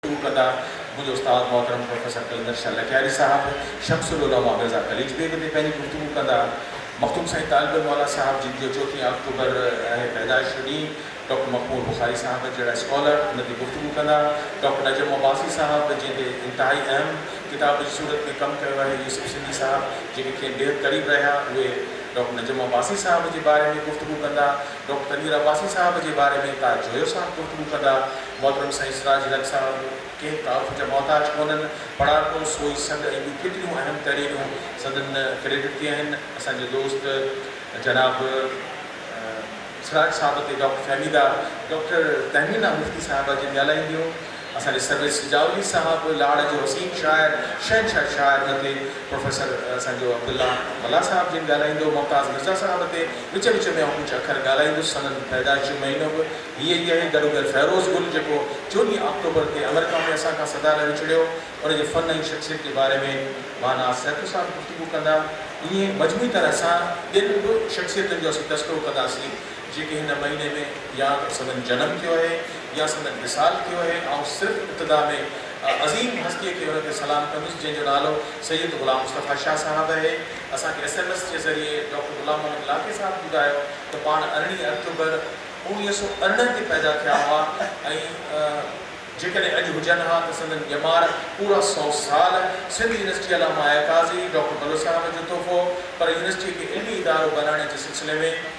Two ڪنڊا، منهنجو استاد محترم پروفيسر قلندر شاهه لڪياري صاحب، شمس العلماء مرزا قليچ بيگ تي پنهنجي گفتگو ڪندا. مخدوم سائين طالب الموليٰ صاحب جن جو چوٿين آڪٽوبر آهي پيدائش جو ڏينهن، ڊاڪٽر مخمور بخاري صاحب جهڙا اسڪالر ان تي گفتگو ڪندا. ڊاڪٽر نجم عباسي صاحب جنهن تي انتهائي اهم ڪتاب جي صورت ۾ ڪم ڪيو آهي، يوسف سنڌي صاحب جيڪي کين بيحد قريب رهيا اهي ڊاڪٽر نجم عباسي صاحب جي باري ۾ گفتگو ڪندا. ڊاڪٽر امير عباسي صاحب جي باري ۾ ڪا جويو صاحب گفتگو ڪندا، محترم سائين سراج لڪ صاحب ڪنهن تعارف جا محتاج ڪونهن، پڙهاڪو، سوئي سڏ ۽ ٻيون ڪيتريون اهم تحريرون سندن ڪريڊٽ تي آهن، اسان جي دوست جناب سراج صاحب تي ڊاڪٽر فهميده، ڊاڪٽر تهمينه مفتي صاحبه جن ڳالهائي هيو. اسان جي سرويچ سجاولي صاحب، لاڙ جو حسين شاعر، شهنشاهه شاعر مٿي پروفيسر اسان جو عبدالله ملاح صاحب جن ڳالهائيندو، ممتاز مرزا صاحب مٿي وچ وچ ۾ آئون ڪجهه اکر ڳالهائيندس، سندن پيدائش جو مهينو به هيء ئي آهي، گڏوگڏ فيروز گل جيڪو چوڏهين آڪٽوبر تي آمريڪا ۾ اسان کان سدا لاء وڇڙيو، ان جي فن ۽ شخصيت جي باري ۾ مانا سيتو صاحب گفتگو ڪندا، ائين مجموعي طرح سان ٻين به شخصيتن جو اسين تذڪرو ڪنداسين. جيڪي هن مهيني ۾ يا ته سندن جنم ٿيو اهي يا سندن وصال ٿيو اهي آئون صرف ابتدا ۾ عظيم هستيء کي ان تي سلام ڪندس جنهن جو نالو سيد غلام مصطفيٰ شاهه صاحب اهي اسان کي ايس ايم ايس جي ذريعي ڊاڪٽر غلام محمد لاکي صاحب ٻڌايو ته پاڻ ارڙهين اڪتوبر اوڻيهه سؤ ارڙهن تي پيدا ٿيا هئا ۽ جيڪڏهن اڄ هجن ها ته سندن ڄمار پورا سؤ سال سنڌ يونيورسٽي علامه اعتازي ڊاڪٽر بلوچ صاحب جو تحفو پر يونيورسٽي کي علمي ادارو بنائڻ جي سلسلي ۾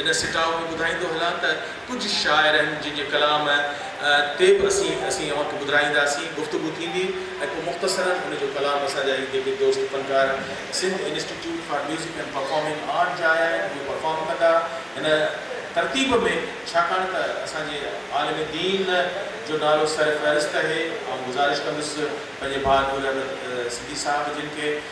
ان سٽاء ۾ ٻڌائيندو هلان ته ڪجهه شاعر آهن جن جي ڪلام تي به اسين اسين اوهان کي ٻڌرائينداسين، گفتگو ٿيندي ۽ پوء مختصراً ان جو ڪلام اسان جا هي جيڪي دوست فنڪار Sindh institute for music and performing art جا آيا آهن اهي پرفارم ڪندا هن ترتيب ۾ ڇاڪاڻ ته اسان جي عالم دين جو نالو سر فهرست اهي آئون گذارش ڪندس پنهنجي ڀاء نور احمد سنڌي صاحب جن کي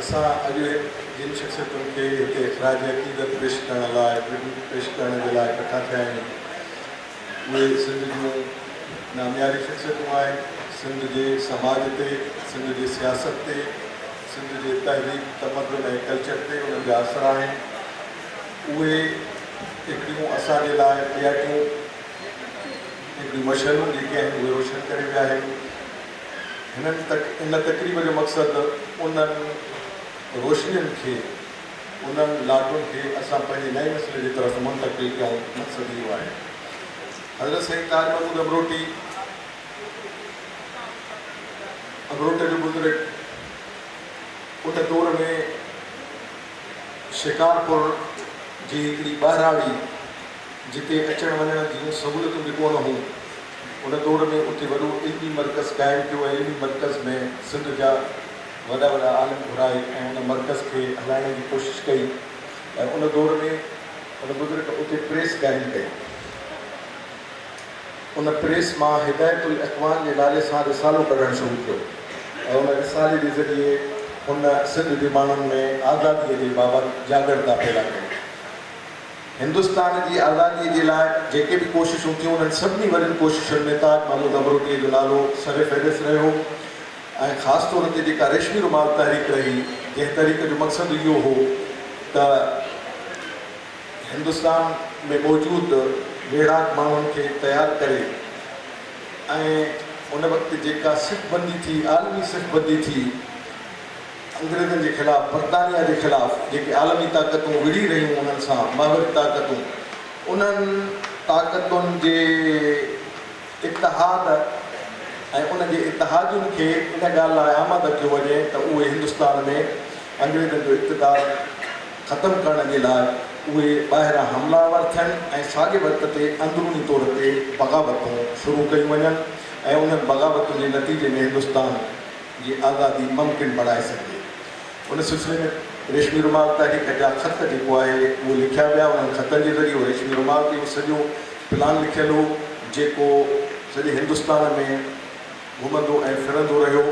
اسان اڄ جن شخصيتن کي هتي اخراج عقيدت پيش ڪرڻ لاء ٽربيوٽ پيش ڪرڻ جي لاء ڪٺا ٿيا آهيون اهي سنڌ جون نامياري شخصيتون آهن سنڌ جي سماج تي سنڌ جي سياست تي سنڌ جي تهذيب تمدن ۽ ڪلچر تي انهن جا اثر آهن اهي هڪڙيون اسان جي لاء ڏياٽيون هڪڙيون مشعلون جيڪي آهن اهي روشن ڪري ويا آهن هن تقريب جو مقصد انهن روشنين کي، انهن لاٽون کي اسان پنهنجي نئين نسل جي طرف منتقل ڪيون مقصد اهو آهي. حضرت سائين طاهر محمود امروٽي امروٽ جو بزرگ ان دور ۾ شڪارپور جي هڪڙي ٻهراڙي جتي اچڻ وڃڻ جون سهولتون به ڪونه هيون، ان دور ۾ اتي وڏو علمي مرڪز قائم ٿيو ۽ علمي مرڪز ۾ سنڌ جا وڏا وڏا عالم گهرائي ۽ ان مرڪز کي هلائڻ جي ڪوشش ڪئي ۽ ان دور ۾ ان بزرگ اتي پريس قائم ڪئي. ان پريس مان هدايت الاخوان جي نالي سان رسالو ڪڍڻ شروع ٿيو ۽ ان رسالي جي ذريعي هن سنڌ جي ماڻهن ۾ آزاديء جي بابت جاڳڻتا پيدا ڪئي. هندستان جي آزاديء جي لاء جيڪي به ڪوششون ٿيون، انهن سڀني وڏين ڪوششن ۾ تاج محمود امروٽيء جو نالو سرفهرست رهيو ۽ خاص طور تي جيڪا ريشمي رومال تحريڪ رهي، جنهن تحريڪ جو مقصد اهو هو ته هندستان ۾ موجود ويڙهاڪ ماڻهن کي تيار ڪري ۽ ان وقت جيڪا صف بندي ٿي، عالمي صف بندي ٿي، انگريزن جي خلاف، برطانيا جي خلاف جيڪي عالمي طاقتون وڙهي رهيون انهن سان محوري طاقتون انهن طاقتن جي اتحاد ۽ ان جي اتحادين کي ان ڳالهه لاء آماده ڪيو وڃي ته اهي هندستان ۾ انگريزن جو اقتدار ختم ڪرڻ جي لاء اهي ٻاهران حمله آور ٿين ۽ ساڳي وقت تي اندروني طور تي بغاوتون شروع ڪيون وڃن ۽ انهن بغاوتن جي نتيجي ۾ هندستان جي آزادي ممڪن بڻائي سگهجي. ان سلسلي ۾ ريشمي رومال تحريڪ جا خط جيڪو آهي اهو لکيا ويا. انهن خطن جي ذريعي ريشمي رومال تي هڪ سڄو پلان لکيل هو جيڪو سڄي هندستان ۾ گهمندو ۽ ڦرندو رهيو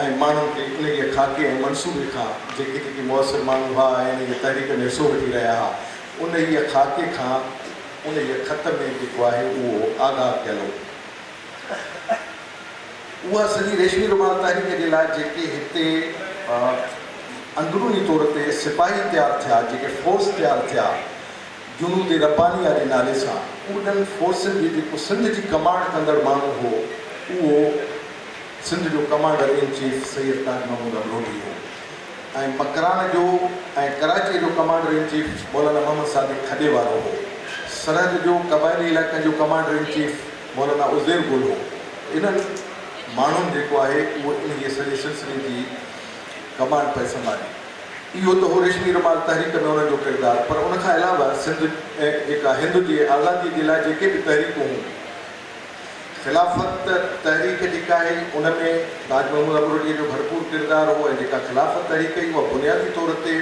۽ ماڻهن کي انهي جي خاڪي ۽ منصوبي کان جيڪي جيڪي موثر ماڻهو هئا ۽ انهي جي تحريڪ ۾ حصو وٺي رهيا هئا انهي خاڪي کان انهي خط ۾ جيڪو آهي اهو آگاهه ڪيل هو. اها سڄي ريشمي رومال تحريڪ جي لاء جيڪي هتي اندروني طور تي سپاهي تيار ٿيا، جيڪي فورس تيار ٿيا جنود ربانيه جي نالي سان، انهن فورسن جي جيڪو سنڌ جي ڪمانڊ ڪندڙ ماڻهو هو، اهو سنڌ جو commander in chief Syed Taj Mahmood Abrohi هو ۽ مڪران جو ۽ ڪراچيء جو commander in chief Maulana Muhammad Sadiq کڏي وارو هو. سرحد جو قبائلي علائقن جو commander in chief. Maulana Uzair Gul هو. انهن ماڻهن جيڪو آهي اهو انهيء سڄي سلسلي جي ڪمان پئي سنڀالي. اهو ته هو ريشمي رومال تحريڪ ۾ انهن جو ڪردار پر ان کان علاوه سنڌ جيڪا هند جي آزاديء جي لاء جيڪي به تحريڪون هون خلافت تحريڪ جيڪا آهي ان ۾ تاج محمود امروٽي جو ڀرپور ڪردار هو ۽ جيڪا خلافت تحريڪ هئي اها بنيادي طور تي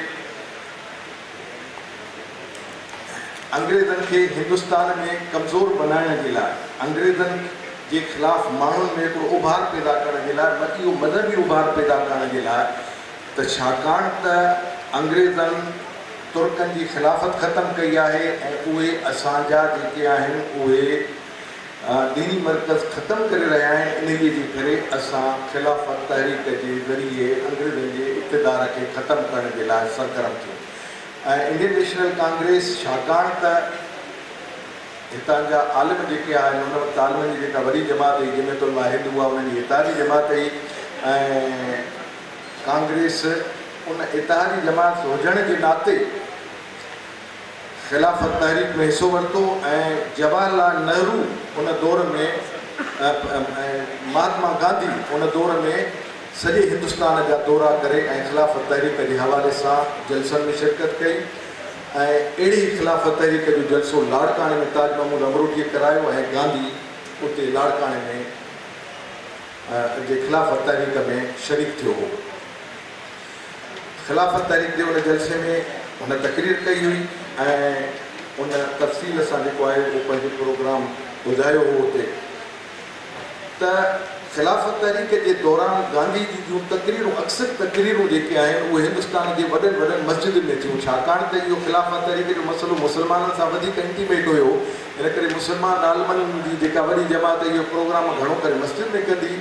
انگريزن کي هندستان ۾ ڪمزور بنائڻ جي لاء، انگريزن جي خلاف ماڻهن ۾ هڪڙو اڀار پيدا ڪرڻ جي لاء، اهو مذهبي اڀار پيدا ڪرڻ جي لاء ته ڇاڪاڻ ته انگريزن ترڪن جي خلافت ختم ڪئي آهي ۽ اهي اسان جا جيڪي آهن اهي ديني مرڪز ختم ڪري رهيا آهن، انهيء جي ڪري اسان خلافت تحريڪ جي ذريعي انگريزن جي اقتدار کي ختم ڪرڻ جي لاء سرگرم ٿيون ۽ انڊين نيشنل ڪانگريس ڇاڪاڻ ته هتان جا عالم جيڪي آهن ان وقت عالمن جي جيڪا وڏي جماعت هئي جمعيت علماء هند اها انهن جي اتحادي جماعت هئي ۽ ڪانگريس ان اتحادي جماعت هجڻ جي ناتي خلافت تحريڪ ۾ حصو ورتو ۽ جواهر لال نهرو ان دور ۾ ۽ مهاتما گانڌي ان دور ۾ سڄي هندستان جا دورا ڪري ۽ خلافت تحريڪ جي حوالي سان جلسن ۾ شرڪت ڪئي ۽ اهڙي ئي خلافت تحريڪ جو جلسو لاڙڪاڻي ۾ تاج محمود امروٽي ڪرايو ۽ گانڌي اتي لاڙڪاڻي ۾ جي خلافت تحريڪ ۾ شريڪ ٿيو هو. خلافت تحريڪ جي ان جلسي ۾ هن تقرير ڪئي هئي ۽ ان تفصيل سان جيڪو آهي اهو پنهنجو پروگرام ٻڌايو هو اتي ته خلافت تحريڪ جي دوران گانڌي جي جون تقريرون اڪثر تقريرون جيڪي آهن اهي هندستان جي وڏن وڏن مسجدن ۾ ٿيون ڇاڪاڻ ته اهو خلافت تحريڪ جو مسئلو مسلمانن سان وڌيڪ انٽيميٽ هيو ان ڪري مسلمان عالمن جي جيڪا وڏي جماعت اهي پروگرام گهڻو ڪري مسجد ۾ ڪندي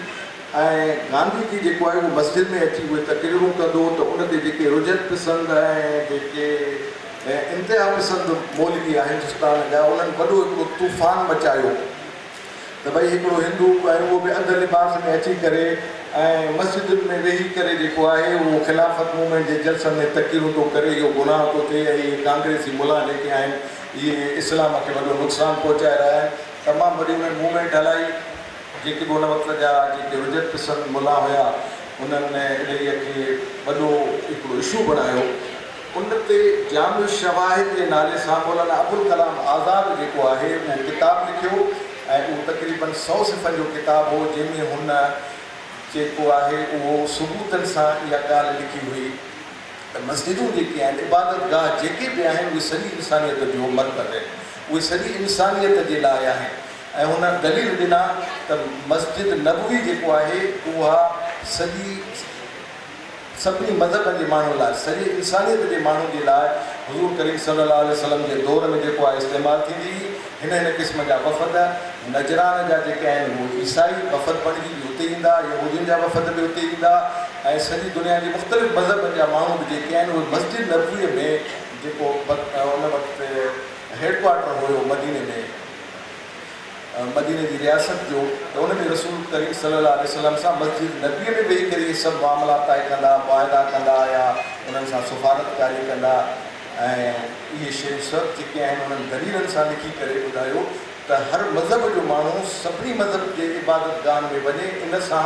۽ گانڌي جي جيڪو آهي اهو مسجد ۾ اچي اهي تقريرون ڪندو ته ان تي جيڪي رجعت پسند ۽ جيڪي انتها پسند مولوي آهن هندستان جا انهن وڏو هڪڙو طوفان مچايو ته ڀئي هڪڙو هندو ۽ اهو به اڌ لباس ۾ اچي ڪري ۽ مسجدن ۾ ويهي ڪري جيڪو آهي اهو خلافت مومينٽ جي جلسن ۾ تقريرون ٿو ڪري اهو گناهه ٿو ٿئي ۽ اهي ڪانگريسي ملان جيڪي آهن اهي اسلام کي وڏو نقصان پهچائي رهيا آهن تمام وڏي انهن مومينٽ هلائي جيڪي به ان وقت جا جيڪي رجعت پسند ملا هيا انهن انهيء کي وڏو هڪڙو اشو بڻايو. ان تي جامع الشواهد جي نالي سان مولانا ابوالڪلام آزاد جيڪو آهي اهو ڪتاب لکيو ۽ اهو تقريباً سؤ صفحن جو ڪتاب هو جنهن ۾ هن جيڪو آهي اهو ثبوتن سان اها ڳالهه لکي هئي ته مسجدون جيڪي آهن عبادت گاهه جيڪي به آهن اهي سڄي انسانيت جو مرڪز آهن اهي سڄي انسانيت جي لاء آهن. ۽ هن دليل ڏنا ته مسجد نبوي جيڪو آهي اها سڄي سڀني مذهبن جي ماڻهن لاء سڄي انسانيت جي ماڻهن جي لاء حضور ڪريم صلي الله عليه وسلم جي دور ۾ جيڪو آهي استعمال ٿيندي هئي هن هن قسم جا وفد نجران جا جيڪي آهن اهي عيسائي وفد بڻجي به اتي ايندا يهودين جا وفد به اتي ايندا ۽ سڄي دنيا جي مختلف مذهبن جا ماڻهو به جيڪي آهن اهي مسجد نبوي ۾ جيڪو ان وقت هيڊ ڪوارٽر هيو مديني ۾ مديني جي رياست جو ته ان ۾ رسول ڪريم صلي الله عليه وسلم سان مسجد نبويء ۾ ويهي ڪري اهي سڀ معاملا طئي ڪندا، معاهدا ڪندا آيا، انهن سان سفارتڪاري ڪندا ۽ اهي شيون سڀ جيڪي آهن انهن دليلن سان لکي ڪري ٻڌايو ته هر مذهب جو ماڻهو سڀني مذهب جي عبادتگاهن ۾ وڃي ان سان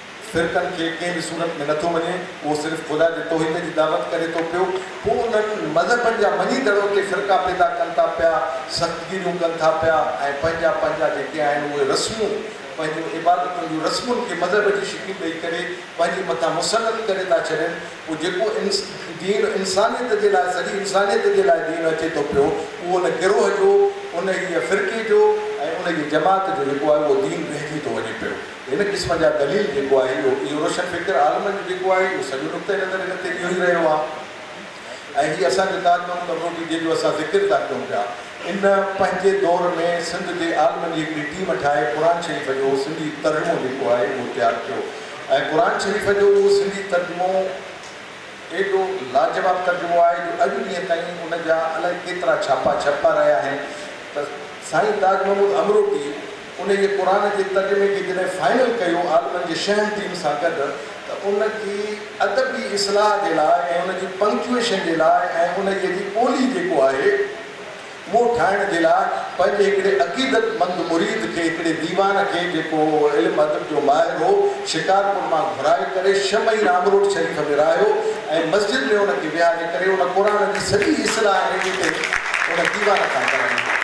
فرقن کي ڪنهن به صورت ۾ نٿو مڃي، اهو صرف خدا جي توحيد جي دعوت ڪري ٿو پيو، پوء انهن مذهبن جا مڃيندڙ اتي فرقا پيدا ڪن ٿا پيا، سختگيريون ڪن ٿا پيا ۽ پنهنجا پنهنجا جيڪي آهن اهي رسمون، پنهنجون عبادتن جون رسمن کي مذهب جي شڪل ڏئي ڪري پنهنجي مٿان مسلط ڪري ٿا ڇڏين، پوء جيڪو دين انسانيت جي لاء، سڄي انسانيت جي لاء دين اچي ٿو پيو، اهو ان گروهه جو، انهيء فرقي جو ۽ انهيء جماعت جو جيڪو آهي اهو دين رهجي ٿو وڃي پيو. هن قسم جا دليل جيڪو آهي اهو اهو روشن فڪر عالمن جو جيڪو آهي اهو سڄو نقطه نظر هن تي اهو ئي رهيو آهي ۽ هي اسان جو تاج محمود امروٽي جنهن جو اسان ذڪر ٿا ڪيون پيا ان پنهنجي دور ۾ سنڌ جي عالمن جي هڪڙي ٽيم ٺاهي قرآن شريف جو سنڌي ترجمو جيڪو آهي اهو تيار ڪيو ۽ قرآن شريف جو اهو سنڌي ترجمو ايڏو لاجواب ترجمو آهي جو اڄ ڏينهن تائين ان جا الائي ڪيترا ڇاپا ڇپبا رهيا آهن ته سائين تاج محمود امروٽي انهيء قرآن جي ترجمي کي جڏهن فائنل ڪيو عالمن جي شهم ٽيم سان گڏ ته ان جي ادبي اصلاح جي لاء ۽ ان جي پنڪچوئيشن جي لاء ۽ انهيء جي ٻولي جيڪو آهي مون ٺاهڻ جي لاء پنهنجي هڪڙي عقيدت مند مريد کي هڪڙي ديوان کي جيڪو علم ادب جو ماهر هو شڪارپور مان گهرائي ڪري ڇهه مهينا امروٽ شريف ۾ رهايو ۽ مسجد ۾ ان کي ويهاري ڪري ان قرآن جي سڄي اصلاح ۽ ايڊيٽنگ ان ديوان کان ڪرائي.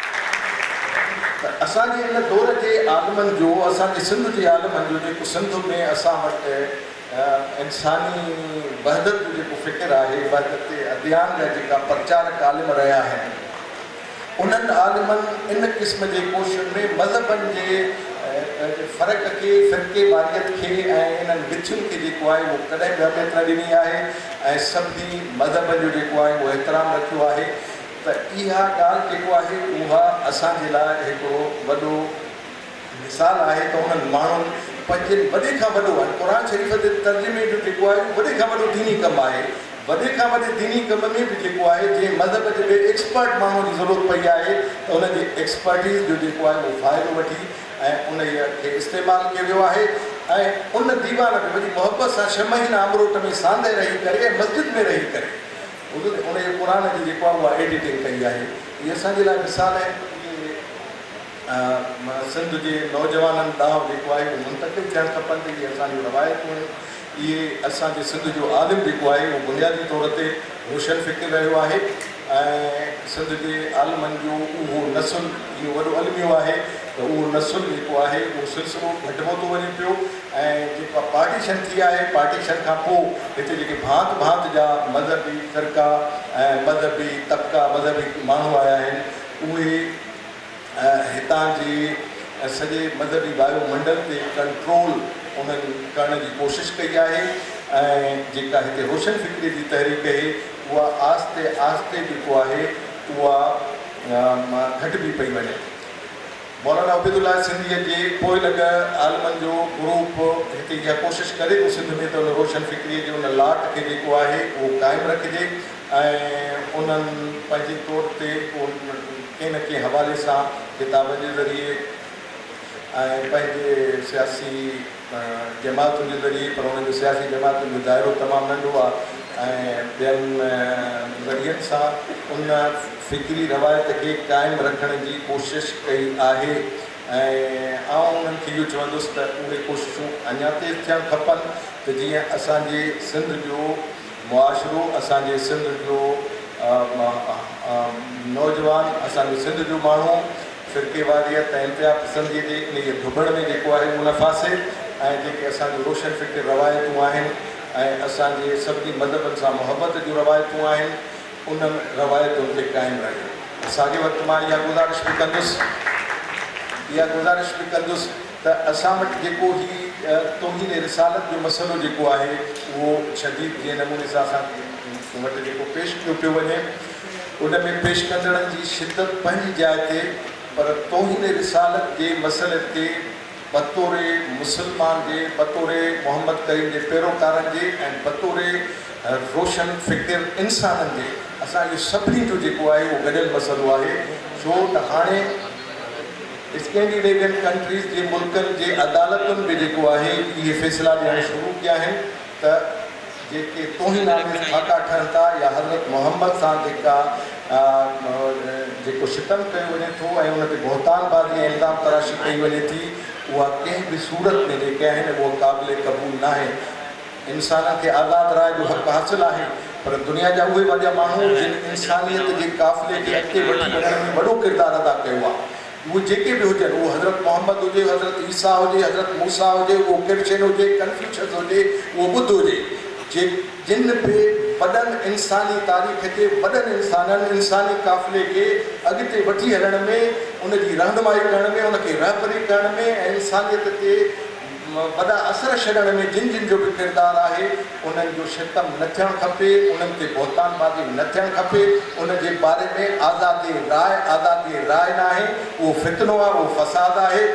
ته اسان جي ان دور جي عالمن جو، اسان جي سنڌ جي عالمن جو جيڪو سنڌ ۾ اسان وٽ انساني وحدت جو جيڪو فڪر آهي، وحدت اديان جا جيڪا پرچارڪ عالم رهيا آهن، انهن عالمن ان قسم جي ڪوششن ۾ مذهبن جي فرق کي، فرقي واريت کي ۽ انهن وٿين کي جيڪو آهي اهو ڪڏهن به اهميت نه ڏني آهي ۽ سڀني مذهبن جو جيڪو آهي اهو احترام رکيو آهي. ته اها ڳالهه جيڪو آهي اها اسان جي لاء هڪڙو وڏو مثال آهي ته انهن ماڻهن پنهنجي وڏي کان وڏو يعني قرآن شريف جي ترجمي جو جيڪو آهي اهو وڏي کان وڏو ديني ڪم آهي وڏي کان وڏي ديني ڪم ۾ به جيڪو آهي جنهن مذهب جي ٻئي ايڪسپرٽ ماڻهوء جي ضرورت پئي آهي ته ان جي ايڪسپرٽيز جو جيڪو آهي اهو فائدو وٺي ۽ انهيء کي استعمال ڪيو ويو آهي ۽ ان ديوان به وڏي محبت سان ڇهه مهينا امروٽ ۾ ساندهه رهي ڪري ۽ مسجد ۾ رهي ڪري حضور جي انهيء قرآن جي جيڪو اوهان ايڊيٽنگ ڪئي آهي اهي اسان جي لاء مثال آهن جيڪي سنڌ جي نوجوانن ڏانهن جيڪو آهي اهو منتقل ٿيڻ کپن ته اهي اسان جون روايتون آهن اهي اسان جي سنڌ جو عالم جيڪو آهي اهو بنيادي طور تي روشن فڪر رهيو آهي ۽ سنڌ جي عالمن جو اهو نسل اهو وڏو الميو آهي ته اهو نسل جيڪو آهي اهو سلسلو گهٽبو ٿو وڃي پيو ۽ جيڪا پارٽيشن ٿي آهي، پارٽيشن کان پوء هتي جيڪي ڀانت ڀانت جا مذهبي فرقا ۽ مذهبي طبقا، مذهبي ماڻهو آيا آهن، اهي هتان جي سڄي مذهبي وايو منڊل تي ڪنٽرول انهن ڪرڻ جي ڪوشش ڪئي آهي ۽ جيڪا هتي روشن فڪري جي تحريڪ اهي اها آهستي آهستي جيڪو آهي اها گهٽبي پئي وڃي. مولانا عبيدالله سنڌيء جي پوئلڳ عالمن جو گروپ هتي اها ڪوشش ڪري ٿو سنڌ ۾ ته ان روشن فڪريء جي ان لاٽ کي جيڪو آهي اهو قائم رکجي ۽ انهن پنهنجي طور تي ڪنهن نه ڪنهن حوالي سان ڪتابن جي ذريعي ۽ پنهنجي سياسي جماعتن جو ذريعي پر انهن جو سياسي جماعتن جو دائرو تمام ننڍو آهي ۽ ٻين ذريعن سان ان فڪري روايت کي قائم رکڻ جي ڪوشش ڪئي آهي ۽ آئون انهن کي اهو چوندس ته اهي ڪوششون اڃا تيز ٿيڻ کپن ته جيئن اسان جي سنڌ جو معاشرو اسان جي سنڌ جو نوجوان اسان جي سنڌ جو ماڻهو فرقيواريت ۽ انتها پسنديء جي انهيء ڀڀڙ ۾ جيڪو آهي مون نه ڦاسي ۽ جيڪي اسان جون روشن فڪر روايتون آهن ۽ اسان جي سڀني مذهبن سان محبت جون روايتون آهن، انهن روايتن تي قائم رهي. ۽ ساڳئي وقت مان اها گذارش به ڪندس، اها گذارش به ڪندس ته اسان وٽ جيڪو هي توهين رسالت جو مسئلو جيڪو آهي اهو شديد جنهن نموني سان اسان وٽ جيڪو پيش ڪيو پيو وڃي، ان ۾ پيش ڪندڙن جي شدت پنهنجي جاء تي پر توهين رسالت جي مسئلي تي بطور مسلمان جي، بطور محمد ڪريم جي پيروڪارن جي ۽ بطور روشن فڪر انسانن جي اسان جو سڀني جو جيڪو آهي اهو گڏيل مسئلو آهي ڇو ته هاڻي اسڪينڊينيوين ڪنٽريز جي ملڪن جي عدالتن به جيڪو آهي اهي فيصلا ڏيڻ شروع ڪيا آهن. ته جيڪي توهين آميز ٺاڪا ٺهن ٿا يا حضرت محمد سان جيڪا جيڪو ستم ڪيو وڃي ٿو ۽ ان تي بهتان بازي ۽ الزام تراشي ڪئي وڃي ٿي اها ڪنهن به صورت ۾ جيڪي آهن اهو قابل قبول ناهي انسانن کي آزاد راء جو حق حاصل آهي پر دنيا جا اهي وڏا ماڻهو جن انسانيت جي قافلي کي اڳتي وٺي وڃڻ ۾ وڏو ڪردار ادا ڪيو آهي اهي جيڪي به هجن، اهو حضرت محمد هجي، حضرت عيسيٰ هجي، حضرت موسيٰ هجي، اهو ڪرشن هجي، ڪنفيوشس هجي، اهو ٻڌ هجي، جي جن به وڏن انساني تاريخ جي وڏن انسانن انساني قافلي کي اڳتي وٺي هلڻ ۾، ان جي رهنمائي ڪرڻ ۾، ان کي رهبري ڪرڻ ۾ ۽ انسانيت تي وڏا اثر ڇڏڻ ۾ جن جن جو به ڪردار آهي انهن جو ستم نه ٿيڻ کپي، انهن تي بهتان بازي نه ٿيڻ کپي، ان جي باري ۾ آزاد راء آزاد راء ناهي، اهو فتنو آهي، اهو فساد آهي،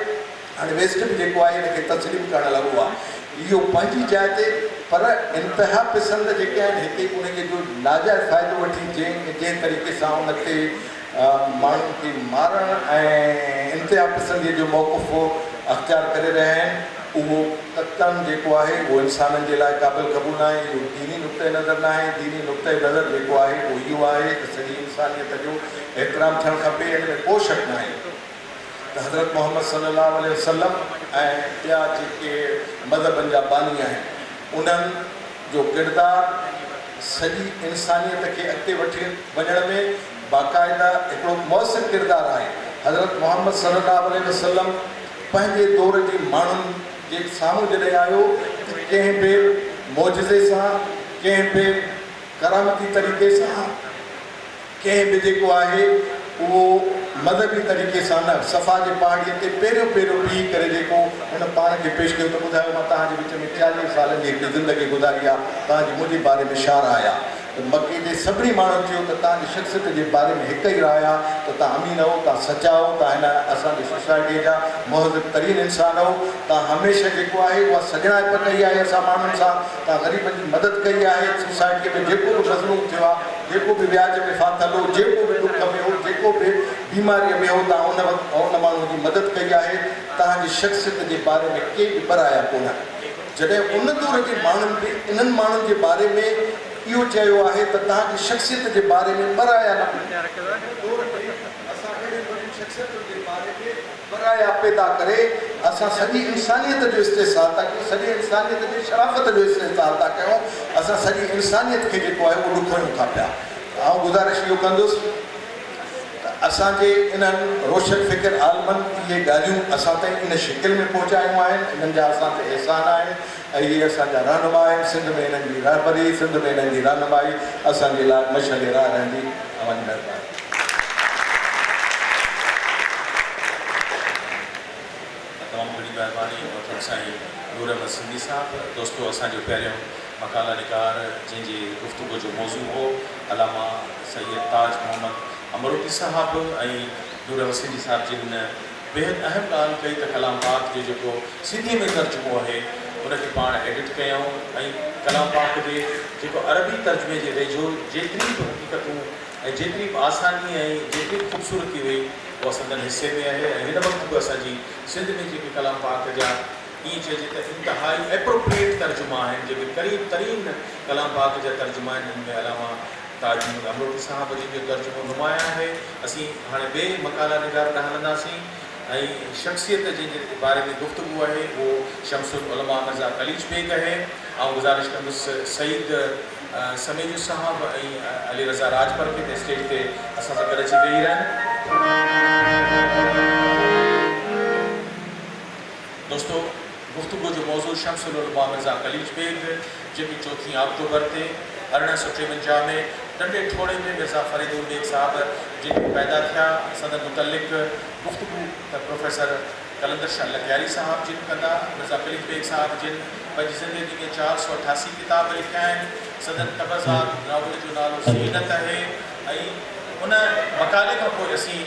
هاڻي ويسٽ به جيڪو آهي ان کي تسليم ڪرڻ لڳو آهي، اهو پنهنجي جاء تي پر انتها پسند جيڪي آهن هتي انهيء جو ناجائز فائدو وٺي جنهن جنهن طريقي سان ان تي ماڻهن کي مارڻ ۽ انتها پسنديء جو موقف اختيار ڪري رهيا آهن، اهو قطعاً جيڪو آهي اهو انسانن جي لاء قابل قبول ناهي، اهو ديني نقطه نظر ناهي، ديني نقطه نظر جيڪو آهي اهو اهو آهي ته سڄي انسانيت جو احترام ٿيڻ کپي، ان ۾ ڪو شڪ ناهي ته حضرت محمد صلي الله عليه وسلم ۽ ٻيا جيڪي مذهبن جا باني آهن انهن جو ڪردار سڄي انسانيت کي اڳتي وٺي وڃڻ ۾. باقاعده هڪڙو مؤثر ڪردار آهي. حضرت محمد صلي الله عليه وسلم پنهنجي دور جي ماڻهن جي سامهون جڏهن آيو ته ڪنهن به معجزي سان، ڪنهن به ڪرامتي طريقي سان، ڪنهن به جيڪو آهي اهو مذهبي طريقي سان نه، صفا جي پهاڙي تي پيريون پيريون بيهي ڪري جيڪو هن پاڻ کي پيش ڪيو ته ٻڌايو مان توهان جي وچ ۾ چاليهه سالن جي هڪڙي زندگي گذاري آ، توهان جي منهنجي باري ۾ شعرا آيا. ته مڪي جي سڀني ماڻهن چيو ته توهان جي شخصيت جي باري ۾ هڪ ئي راء آهي ته توهان امين هئو، توهان سچا هئو، توهان هن اسان جي سوسائٽيء جا مهذب ترين انسان هئو، توهان هميشه جيڪو آهي اها سڄڻائپ ڪئي آهي اسان ماڻهن سان، توهان غريبن جي مدد ڪئي آهي، سوسائٽيء ۾ جيڪو به مظلوم ٿيو آهي، جيڪو به وياج ۾ ڦاٿل هو، جيڪو به ڏک ۾ هو، جيڪو به بيماريء ۾ هو، توهان ان وقت ان ماڻهوء جي مدد ڪئي آهي، توهان جي شخصيت جي باري ۾ ڪي به ٻه رايا ڪونه آهن. جڏهن ان دور جي ماڻهن به انهن ماڻهن جي باري ۾ اهو چيو آهي ته توهان جي شخصيت جي باري ۾ برايا نه هوندي. ان دور ۾ اسان اهڙين وڏين شخصيتن جي باري ۾ برايا پيدا ڪري اسان سڄي انسانيت جو استحصال ٿا ڪيون، سڄي انسانيت جي شرافت جو استحصال ٿا ڪيون، اسان سڄي انسانيت کي جيڪو آهي اهو ڏکويون ٿا پيا. آئون گذارش اهو ڪندس. ته اسان جي انهن روشن فڪر عالمن اهي ڳالهيون اسان تائين ان شڪل ۾ پهچايون آهن، انهن جا اسان تي احسان آهن ۽ اهي اسان جا رهنما آهن، سنڌ ۾ انهن جي رهبري، سنڌ ۾ انهن جي رهنمائي اسان جي لاء مشعل راهه رهندي. اوهان جي مهرباني. تمام گهڻي مهرباني محترم سائين نور احمد سنڌي صاحب. دوستو اسان جو پهريون مقاله نگار جنهن جي گفتگو جو موضوع هو. علامه سيد تاج محمد امروٽي صاحب ۽ نور حسيني صاحب جن بيحد اهم ڳالهه ڪئي ته ڪلام پاڪ جو جيڪو سنڌيء ۾ ترجمو آهي ان کي پاڻ ايڊٽ ڪيائون ۽ ڪلام پاڪ جي جيڪو عربي ترجمي جي ويجهو جيتري به حقيقتون ۽ جيتري به آساني ۽ جيتري به خوبصورتي هئي اها سندن حصي ۾ آهي ۽ هن وقت به اسان جي سنڌ ۾ جيڪي ڪلام پاڪ جا اهي چئجي ته انتهائي Appropriate ترجما آهن جيڪي قريب ترين ڪلام پاڪ جا ترجما آهن جن ۾ علامه تاج محمد امروٽي صاحب جن جو ترجمو نمايان آهي. اسين هاڻي ٻئي مقالا نگار ڏانهن هلنداسين ۽ شخصيت جنهن جي باري ۾ گفتگو آهي اهو شمس العلماء مرزا قليچ بيگ آهي. آئون گذارش ڪندس سعيد سميجو صاحب ۽ علي رضا راڄپر کي ته اسٽيج تي اسان سان گڏ اچي ويهي رهن. دوستو گفتگو جو موضوع شمس العلماء مرزا قليچ بيگ جيڪي چوٿين آڪٽوبر تي ارڙهن سؤ ٽيونجاهه ۾ ٽنڊي ٺوڙهي ۾ مرزا فريد البيگ صاحب جي ڏينهن پيدا ٿيا سندن متعلق گفتگو ته پروفيسر قلندر شاهه لغياري صاحب جن ڪندا مرزا قليچ بيگ صاحب جن پنهنجي زندگي ۾ چار سؤ اٺاسي ڪتاب لکيا آهن سندن تبرزاد ناول جو نالو زينت اهي ۽ ان مقالي کان پوء اسين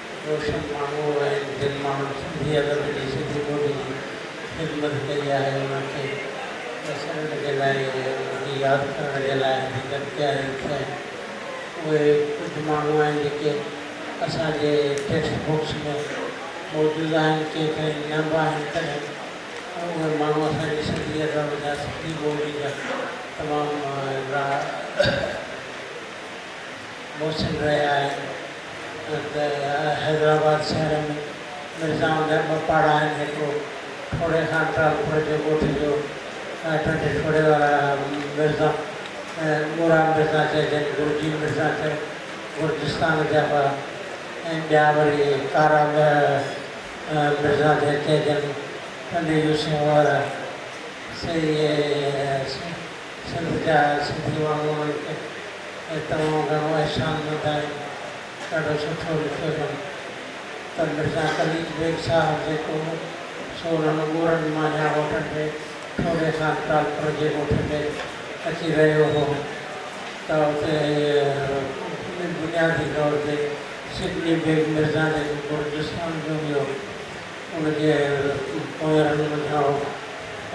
روشن ماڻهو اهي آهن جن ماڻهن سنڌي ادب جي سنڌي ٻولي جي خدمت ڪئي آهي انهن کي وسارڻ جي لاء ۽ انهن کي ياد ڪرڻ جي لاء حقيقت ڪيا لکيا آهن اهي ڪجهه ماڻهو آهن جيڪي اسان جي ٽيڪسٽ بڪس ۾ موجود آهن ڪيترائي نه به آهن تڏهن به اهي ماڻهو اسان جي سنڌي ادب جا سنڌي ٻولي جا تمام وڏا محسن رهيا آهن ته حيدرآباد شهر ۾ مرزائن جا ٻه پاڙا آهن هڪڙو ٺوڙهي خان ٽالپر جي ڳوٺ جو ۽ ٽنڊي ٺوڙهي وارا مرزا ڳورا مرزا چئجن گرجي مرزا چئي گرجستان جا هئا ۽ ٻيا وري ڪارا مرزا چئجن ٽنڊي يوسف وارا سي اي سي سنڌ جا سنڌي ماڻهو آهيو ته ۽ تمام گهڻو احسان مند آهيو ڏاڍو سٺو لکيو اٿم ته مرزا قليچ بيگ صاحب جيڪو هو سو انهن ڳورن مانجهان هوٽل ۾ ٺوري خان ٽالپر جي ڳوٺ ۾ اچي رهيو هو ته اتي بنيادي طور تي سڊني بيگ مرزا جيڪو گرجستان جو هيو ان جي پويان رڳ منجهان هو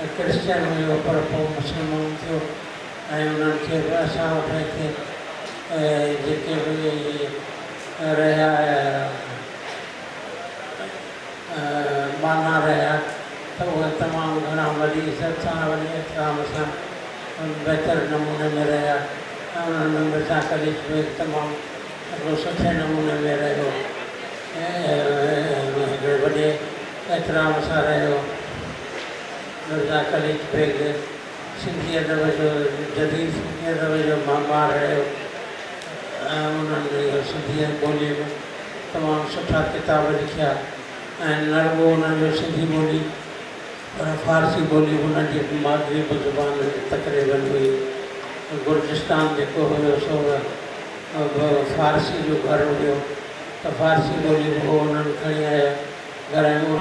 ۽ ڪرسچن هيو پر پوء مسلمان ٿيو ۽ انهن کي به اسان وٽ هتي جيڪي به رهيا ٻانها رهيا ته اهي تمام گهڻا وڏي عزت سان ۽ وڏي احترام سان بهتر نموني ۾ رهيا ۽ انهن ۾ مرزا قليچ به تمام ڏاڍو سٺي نموني ۾ رهيو ۽ هڪڙي وڏي احترام سان رهيو. مرزا قليچ بيگ سنڌي ادب جو جديد سنڌي ادب جو معمار رهيو ۽ انهن سنڌي ٻولي ۾ تمام سٺا ڪتاب لکيا ۽ نه رڳو انهن جو سنڌي ٻولي پر فارسي ٻولي به انهن جي مادري زبان تقريبن هئي. گرجستان جيڪو هيو سو به فارسي جو گهر هيو ته فارسي ٻولي به هو انهن کڻي آيا گهرايو.